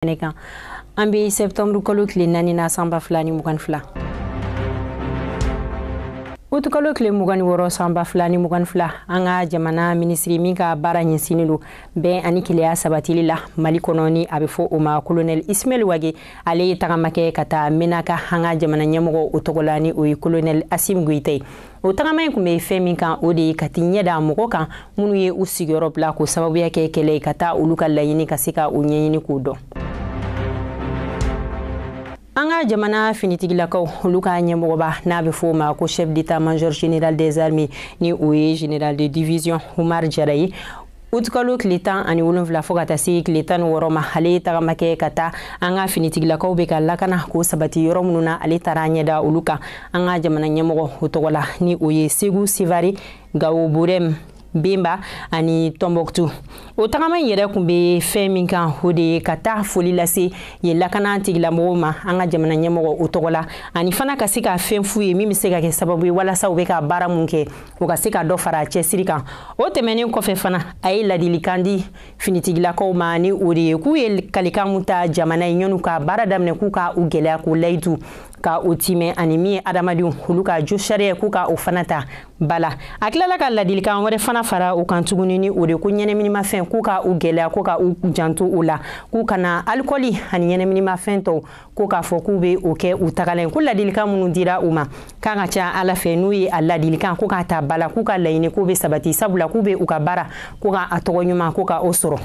kɛnɛ kan an bɛ sɛptɛnburu kalo tile naani na san ba fila ni mugan ni fila utukalo tile mugan ni wɔɔrɔ san ba fila ni mugan ni fila an ka jamana minisiri min ka baara ɲɛsinnen don bɛn ani kelenya sabatili la mali kɔnɔ ni a bɛ fɔ o ma kolonɛl ismail wage ale ye tagama kɛ ka taa menaka an ka jamana ɲɛmɔgɔ o tɔgɔ la ni o ye kolonɛl asimi goyita ye o tagama in kun bɛ fɛn min kan o de ye ka t'i ɲɛ da mɔgɔw kan minnu ye u sigiyɔrɔ bila k'o sababuya kɛ kɛlɛ ye ka taa olu ka laɲini ka se ka o ɲɛɲini k'o dɔn an ka jamana finitigilakaw olu ka ɲɛmɔgɔba n'a bɛ fɔ o ma ko chef d'état major général des armées ni o ye général de division Umar Jara ye utukalo tile tan ani wolonfila fo ka taa se tile tan ni wɔɔrɔ ma ale ye tagama kɛ ka taa an ka finitigilakaw bɛ ka lakana ko sabati yɔrɔ minnu na ale taara ɲɛda olu kan an ka jamana ɲɛmɔgɔ o tɔgɔ la ni o ye segu sevari gawo burɛm banba ani tɔnbɔkutu o tagama in yɛrɛ kun bɛ fɛn min kan o de ye ka taa foli lase yen lakana tigilamɔgɔw ma an ka jamana ɲɛmɔgɔ o tɔgɔ la ani fana ka se ka fɛn f'u ye min bɛ se ka kɛ sababu ye walasa u bɛ ka baara min kɛ o ka se ka dɔ fara a cɛsiri kan o tɛmɛnen kɔfɛ fana a ye ladilikan di finitigilakaw ma ni o de ye k'u ye kalikan min ta jamana ye yann'u ka baara daminɛ k'u ka u gɛlɛya k'o layidu ka o timɛ ani min ye hadamadenw olu ka josariya k'u ka o fana ta ba la a tilala ka ladilikan wɛrɛ fana fara o kan tuguni ni o de ko ɲɛnaminimafɛn k'u ka u gɛlɛya ko ka u janto o la k'u kana alikɔli ani ɲɛnaminimafɛn tɔw ko k'a fɔ k'u bɛ o kɛ u tagalen ko ladilikan minnu dira u ma k'a ka ca ala fɛ n'u ye a ladilikan ko k'a ta ba la k'u ka laɲini k'u bɛ sabati sabula k'u bɛ u ka baara ko ka a tɔgɔ ɲuman ko ka o sɔrɔ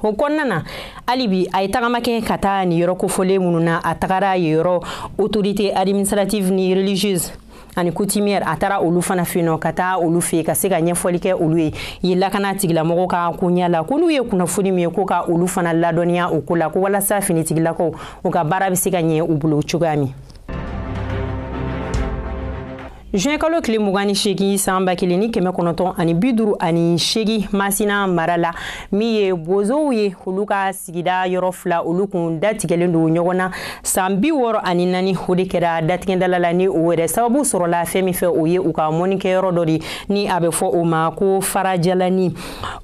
o kɔnɔna na hali bi a ye tagama kɛ ka taa nin yɔrɔ kofɔlen minnu na a tagara yen yɔrɔ autorité administrative ni religieuse ani coutumière a taara olu fana fɛ yen ka taa olu fɛ ka se ka ɲɛfɔli kɛ olu ye yen lakana tigilamɔgɔw ka koɲɛ la ko n'u ye kunnafoni min ye ko ka olu fana ladɔnniya o ko la ko walasa finitigilakaw u ka baara bɛ se ka ɲɛ u bolo cogoya min juin kalo tile mugan ni seegin san ba kelen ni kɛmɛ kɔnɔntɔn ani bi duuru ani seegin masina mara la min ye bozow ye olu ka sigida yɔrɔ fila olu kun datigɛlen don ɲɔgɔn na san bi wɔɔrɔ ani naani o de kɛra datigɛdala la ni o yɛrɛ sababu sɔrɔla fɛn min fɛ o ye u ka mɔnikɛyɔrɔ dɔ de ni a bɛ fɔ o ma ko farajalani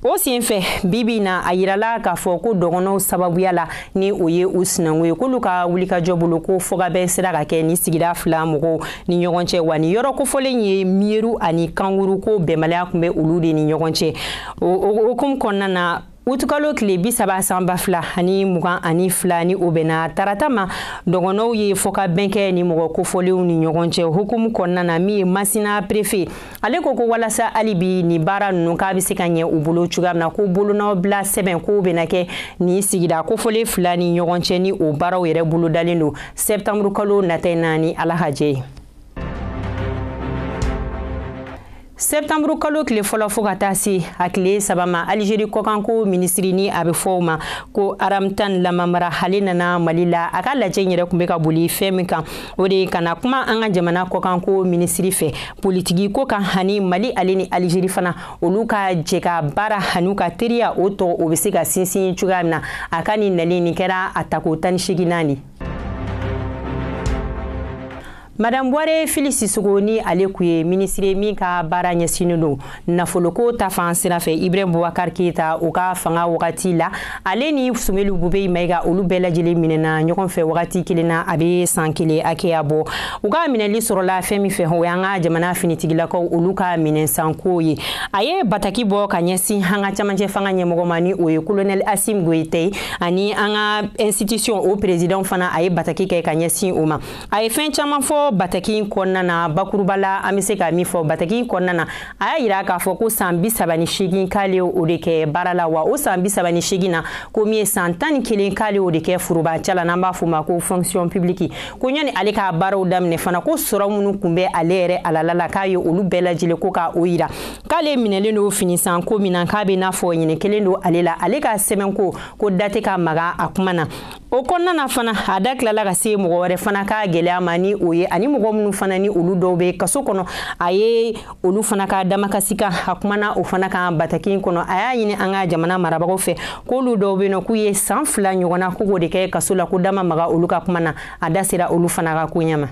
o sen fɛ bibi na a yirala k'a fɔ ko dɔgɔnɔw sababuya la ni o ye u sinankun ye k'olu ka wulikajɔ bolo ko fɔkabɛn sera ka kɛ nin sigida fila mɔgɔw ni ɲɔgɔn cɛ wa nin yɔrɔ kofɔlen ye miyeru ani kankuru ko bɛnbaliya kun bɛ olu de ni ɲɔgɔn cɛ o hukumu kɔnɔna na utukalo tile bi saba san ba fila ani mugan ani fila ni o bɛnna tarata ma dɔgɔnɔw ye fɔkabɛn kɛ ni mɔgɔ kofɔlenw ni ɲɔgɔn cɛ hukumu kɔnɔna na min ye masina prefe ale ko ko walasa hali bi nin baara ninnu k'a bɛ se ka ɲɛ u bolo cogoya min na ko bolonɔ bila sɛbɛn ko bɛna kɛ nin sigida kofɔlen fila ni ɲɔgɔn cɛ ni o baaraw yɛrɛ bolodalen don sɛptanburukalo nata in na ni ala ka jɛ ye sɛptanburu kalo tile fɔlɔ fɔɔ ka taa se a tile saba ma alizeri kɔkanko minisiri ni a bɛ fɔ o ma ko aramtan lamamara hale nana mali la a ka lajɛ yɛrɛ kun bɛ ka boli fɛn min kan o de ye ka na kuma an ka jamana kɔkanko minisiri fɛ politiki ko kan hani mali ale ni alizeri fana olu ka jɛ ka baara hani u ka teriya o tɔgɔ o bɛ se ka sinsin cogoya min na a ka nin nali nin kɛra a tako tan ni seginnan ye Madame Bware Fili Sissoko ni ale kun ye minisiri ye min ka baara ɲɛsinnen don nafoloko ta fan sira fɛ Ibrahim Boubacar Keita o ka fanga wagati la ale ni Sumelu Bube Mayiga olu bɛɛ lajɛlen minɛna ɲɔgɔn fɛ wagati kelen na a bɛ san kelen hakɛya bɔ u ka minɛli sɔrɔla fɛn min fɛ o y'an ka jamana finitigilakaw olu ka minɛnsanko ye a ye bataki bɔ ka ɲɛsin an ka camancɛ fanga ɲɛmɔgɔ ma ni o ye kolonɛli Asimi Goyita ye ani an ka institution o perezidanw fana a ye bataki kɛ ka ɲɛsin o ma a ye fɛn caman fɔ bataki in kɔnɔna na bakuruba la an bɛ se ka min fɔ bataki in kɔnɔna na a y'a yira k'a fɔ ko san bi saba ni seegin k'ale o de kɛ baara la wa o san bi saba ni seegin na ko min ye san tan ni kelen k'ale o de kɛ forobancɛ la n'an b'a fɔ o ma ko fonction publique ko yanni ale ka baaraw daminɛ fana ko sɔrɔ minnu tun bɛ ale yɛrɛ halala la k'a ye olu bɛɛ lajɛlen ko ka o yira k'ale minɛlen don fini san ko min na k'a bɛ n'a fɔ ɲinɛ kɛlen don ale la ale ka sɛbɛnko ko da tɛ ka maga a kuma na o kɔnɔna na fana a da tilala ka se mɔgɔ wɛrɛ fana ka gɛlɛya ma ni o ye ani mɔgɔ minnu fana ni olu dɔw bɛ kaso kɔnɔ a ye olu fana ka damakasi kan a kumana o fana kan bataki in kɔnɔ a y'a ɲini an ka jamana marabagaw fɛ k'olu dɔw bɛ yen nɔ k'u ye san fila ɲɔgɔn na k'u k'o de kɛ kaso la ko da ma maga olu ka kuma na a da sera olu fana ka koɲɛ ma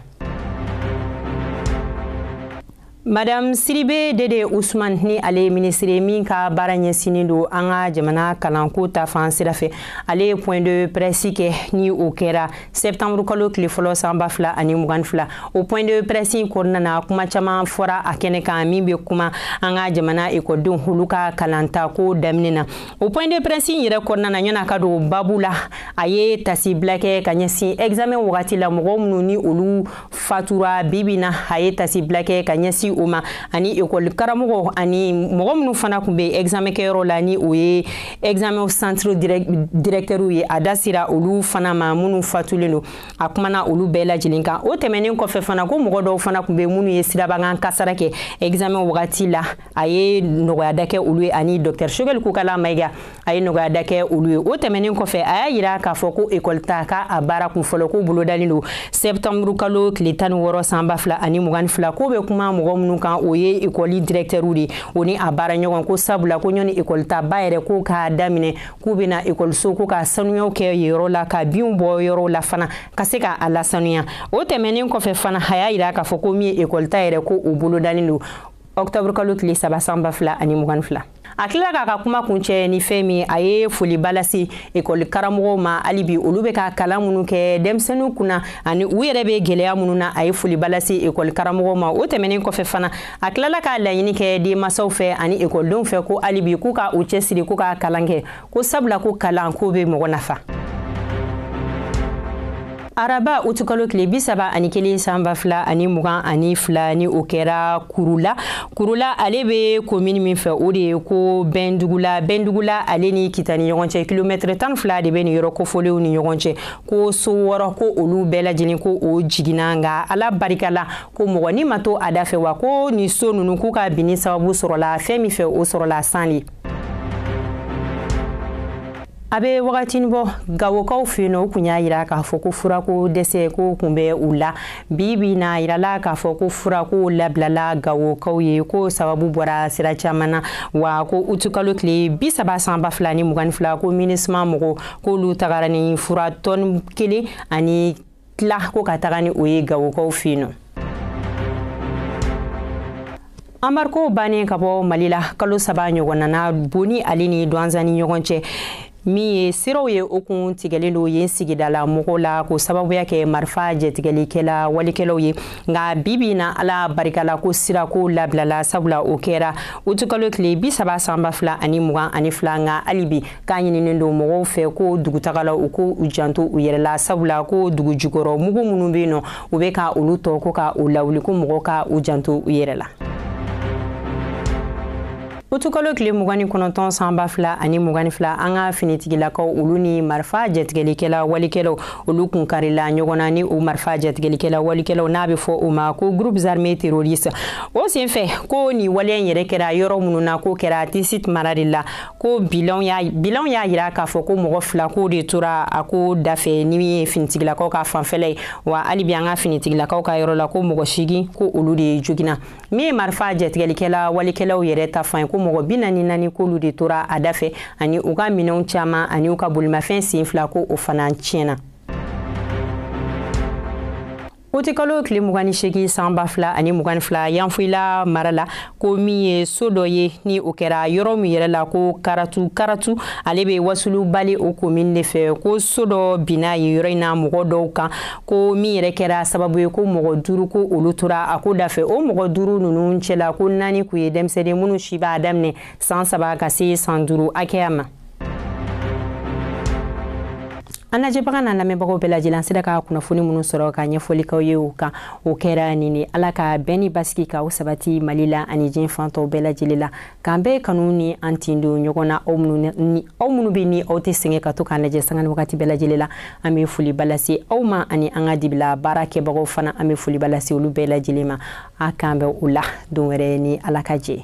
madam sidibe dede usman ni ale ye minisiri min ka baara ɲɛsinnen don an ka jamana kalanko ta fan sira fɛ ale ye point de presse kɛ ni o kɛra septembre kalo tile fɔlɔ san ba fila ani mugan fila o point de presse in kɔnɔna na kuma caman fɔra a kɛnɛ kan min bɛ kuma an ka jamana ekɔlidenw olu ka kalanta ko daminɛ na o point de presse in yɛrɛ kɔnɔna na yann'a ka don babu la a ye tasibila kɛ ka ɲɛsin examen wagati la mɔgɔ minnu ni olu fatura bibi na a ye tasibila kɛ ka ɲɛsin o ma ani ekɔli karamɔgɔ ani mɔgɔ minnu fana kun bɛ examen kɛyɔrɔ la ni o ye examen centre directɛriw ye a da sera olu fana ma minnu fatulen don a kumana olu bɛɛ lajɛlen kan o tɛmɛnen kɔfɛ fana ko mɔgɔ dɔw fana kun bɛ minnu ye sirabakan kasara kɛ examen wagati la a ye nɔgɔya da kɛ olu ye ani dɔktɛr sogɛli kokala mayiga a ye nɔgɔya da kɛ olu ye o tɛmɛnen kɔfɛ a y'a yira k'a fɔ ko ekɔli ta ka a baara kun fɔlɔ k'o bolodalen don sɛptanburu kalo tile tan ni wɔɔrɔ san ba fila ani mugan ni fila k'o bɛ kuma mɔgɔ minnu kan o ye ekɔli dirɛktɛriw de o ni a baara ɲɔgɔn ko sabula ko ɲani ekɔli ta ba yɛrɛ ko k'a daminɛ k'u bɛna ekɔliso ko ka sanuyaw kɛ yɔrɔ la ka binw bɔ yɔrɔw la fana ka se ka a lasanuya o tɛmɛnen kɔfɛ fana a y'a yira k'a fɔ ko min ye ekɔli ta yɛrɛ ko o bolodalen don ɔkutɔburu kalo tile saba san ba fila ani mugan ni fila a tilala k'a ka kuma kuncɛ ni fɛn min a ye foliba lase ekɔli karamɔgɔw ma hali bi olu bɛ ka kalan minnu kɛ denmisɛnninw kunna ani u yɛrɛ bɛ gɛlɛya minnu na a ye foliba lase ekɔli karamɔgɔw ma o tɛmɛnen kɔfɛ fana a tilala k'a laɲini kɛ denmansaw fɛ ani ekɔlidenw fɛ ko hali bi k'u ka u cɛsiri k'u ka kalan kɛ ko sabula ko kalan k'o bɛ mɔgɔ nafa araba utukalo tile bi saba ani kelen san ba fila ani mugan ani fila ni o kɛra kurula kurula ale be komini min fɛ o de ye ko bɛndugula bɛndugula ale ni kita ni ɲɔgɔn cɛ kilomɛtiri tan fila de be nin yɔrɔ kofɔlenw ni ɲɔgɔn cɛ ko so wɔɔrɔ ko olu bɛɛ lajɛlen ko o jiginna nga ala barika la ko mɔgɔ ni ma to a dafɛ wa ko nin so nunu k'u ka binni sababu sɔrɔla fɛn min fɛ o sɔrɔla san de a bɛ wagatinin bɔ gawokaw fɛ yen nɔ u kun y'a yira k'a fɔ ko furako dɛsɛ ko kun bɛ u la bi bi na a yirala k'a fɔ ko furako labilala gawokaw ye ko sababu bɔra sira caman na wa ko utukalo tile bi saba san ba fila ni mugan ni fila ko minusuma mɔgɔw k'olu tagara ni fura tɔni kelen ani tila ko ka taga ni o ye gawokaw fɛ yen nɔ anbarigo bannen ka bɔ mali la kalo saba ɲɔgɔnna na boni ale ni dwanza ni ɲɔgɔn cɛ min ye siraw ye o kun tigɛlen don yen sigidala mɔgɔw la k'o sababuya kɛ marifa jatigɛlikɛla walekɛlaw ye nka bi bi na ala barika la ko sirako labilala sabula o kɛra utukalo tile bi saba san ba fila ani mugan ani fila nka hali bi k'a ɲininen don mɔgɔw fɛ ko dugutagalaw k'u janto u yɛrɛ la sabula ko dugu jukɔrɔ mugu minnu bɛ yen nɔ u bɛ ka olu tɔ ko ka u lawuli ko mɔgɔw ka u janto u yɛrɛ la utukalo tile mugan ni kɔnɔntɔn san ba fila ani mugan ni fila an ka finitigilakaw olu ni marifa jatigɛlikɛla walekɛlaw olu kun karila ɲɔgɔn na ni o marifa jatigɛlikɛla walekɛlaw n'a bɛ fɔ o ma ko groupes armés terroristes o senfɛ ko nin waleya in yɛrɛ kɛra yɔrɔ minnu na k'o kɛra tesit mara de la ko bilanw y'a yira k'a fɔ ko mɔgɔ fila k'o de tora a ko dafɛ ni min ye finitigilakaw ka fanfɛla ye wa hali bi an ka finitigilakaw ka yɔrɔ la ko mɔgɔ seegin ko olu de joginna min ye marifa jatigɛlikɛla walekɛlaw yɛrɛ ta fan ye ko mɔgɔ bi naani ni naani k'olu de tora a dafɛ ani u ka minɛnw caman ani u ka bolimafɛn sen fila ko o fana tiɲɛna utikalo tile mugan ni seegin san ba fila ani mugan ni fila yanfoyila mara la ko min ye so dɔ ye ni o kɛra yɔrɔ min yɛrɛ la ko karatu karatu ale bɛ wasulu bale o komin de fɛ ko so dɔ binna yen yɔrɔ in na mɔgɔ dɔw kan ko min yɛrɛ kɛra sababu ye ko mɔgɔ duuru ko olu tora a ko dafɛ o mɔgɔ duuru ninnu cɛla ko naani kun ye denmisɛnnin minnu si b'a daminɛ san saba ka se san duuru hakɛya ma an lajɛbagaw n'an lamɛnbagaw bɛɛ lajɛlen sera ka kunnafoni minnu sɔrɔ ka ɲɛfɔli k'aw ye u kan o kɛra nin ye ala ka bɛn ni basigi ka o sabati mali la ani diɲɛ fan tɔw bɛɛ lajɛlen la k'an bɛɛ kanu ni an tin don ɲɔgɔn na aw minnu bɛ ni aw tɛ sɛgɛn ka to k'an lajɛ sanga ni wagati bɛɛ lajɛlen la an bɛ foliba lase aw ma ani an ka dibi la baarakɛbagaw fana an bɛ foliba lase olu bɛɛ lajɛlen ma a k'an bɛn o la don wɛrɛ ni ala ka jɛ